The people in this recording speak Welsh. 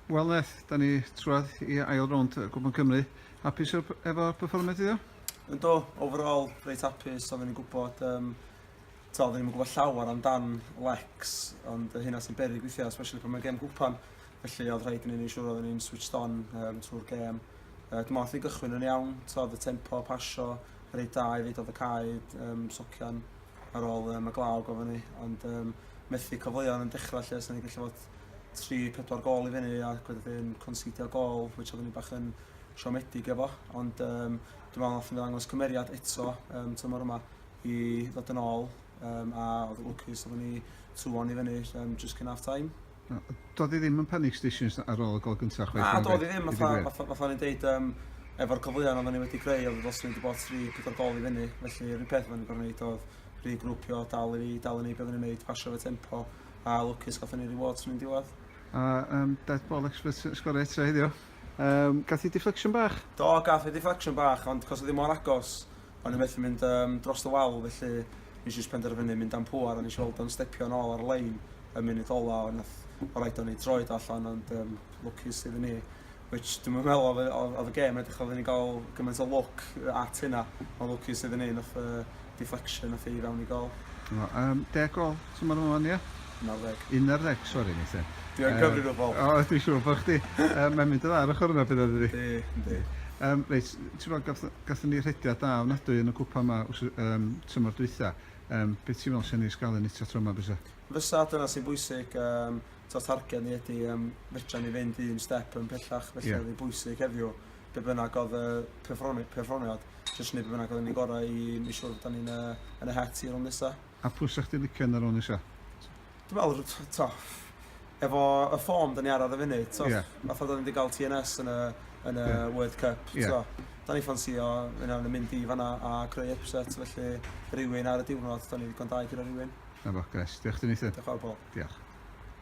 Wel Neth, da ni trwad i ail rownd y Gwpan Cymru. Hapus efo performance iddo? Ynddo, overall, reit hapus, oedden ni'n gwybod, um, ta, oedden ni'n gwybod llawer amdan Lex, ond hynna sy'n berig weithiau, especially pan mae gem gwpan, felly oedd rhaid i ni'n ei siŵr oedden ni'n switched on um, trwy'r gem. Uh, dwi'n meddwl gychwyn yn iawn, ta, oedd y tempo, pasio, reit da i ddeud oedd y caed, um, socian, ar ôl um, y glaw gofyn ni, ond um, methu cyfleoedd yn dechrau lle, so ni gallu fod 3-4 gol i fyny a gweddi'n considio gol, which oedden ni bach yn siomedig efo, ond um, dwi'n meddwl nath ni ddangos cymeriad eto um, tymor yma i ddod yn ôl um, a oedd lwcus oedden ni tŵon i fyny um, just cyn half time. Na, doedd hi ddim yn panic stations ar ôl y gol gyntaf chwaith. Na, doedd hi ddim. Fatha o'n i'n deud, um, efo'r cyfleoedd oedden ni wedi greu, oedd ddylsyn ni wedi bod tri, pedwar gol i fyny. Felly, yr un peth oedden ni'n gorau gwneud oedd rhi grwpio, dal i ni, dal i ni beth oedden ni'n gwneud, pasio fe tempo, a lwcus gatho ni reward sy'n ni'n diwedd. A um, dead ball expert sgorau eto heddiw. Um, gath i deflection bach? Do, gath i deflection bach, ond cos oedd hi mor agos, O'n i methu mynd um, dros y wal, felly nes i penderfynu mynd am pŵar a nes i weld o'n stepio'n ôl ar lein y munud ola ond nath o rhaid o'n i droed allan ond um, lwcus iddyn ni. Which dwi'n meddwl oedd, oedd y gêm edrych oedd ni'n gael gymaint o look at hynna ond lwcus iddyn ni nath uh, deflection nath i fewn i gol. Um, deg gol, ti'n meddwl yma, ia? Unarddeg. Unarddeg, sori Nathan. Dwi yn gyfrifol. O, dwi'n siŵr bod chdi. Mae'n mynd yn dda ar ochr yna beth ydy? Yndi, yndi. Um, reit, ti'n meddwl, gatho ni rhediad da ofnadwy yn y cwpa yma um, tymor dwytha. Um, beth ti'n meddwl sy'n ei sgalu ni ta tro yma fysa? Fysa, dyna sy'n bwysig. Um, to targed ni ydy, um, fedra ni fynd un step yn pellach, felly yeah. ydy bwysig heddiw. Be bynnag oedd y perfformiad, jyst ni be bynnag oedd yn ei gorau i mi siwr bod ni'n uh, yn y het i'r nesaf. A pwy 'sech chdi licio yn yr Owners ia? Dwi me'wl r- t- t'o' efo y form 'dan ni ar ar y funud t'o'... Ie. ...fatha 'dan ni 'di ga'l TNS yn y yn y... Ie. ...World Cup... Ie. ...t'o' 'dan ni ffansïo un o nw mynd i fan 'na a creu ypset felly rywun ar y diwrnod 'dan ni ddigon da i guro rywun. 'Na fo grêt. Dioch chdi Nathan. Dioch fawr Paul. Diolch.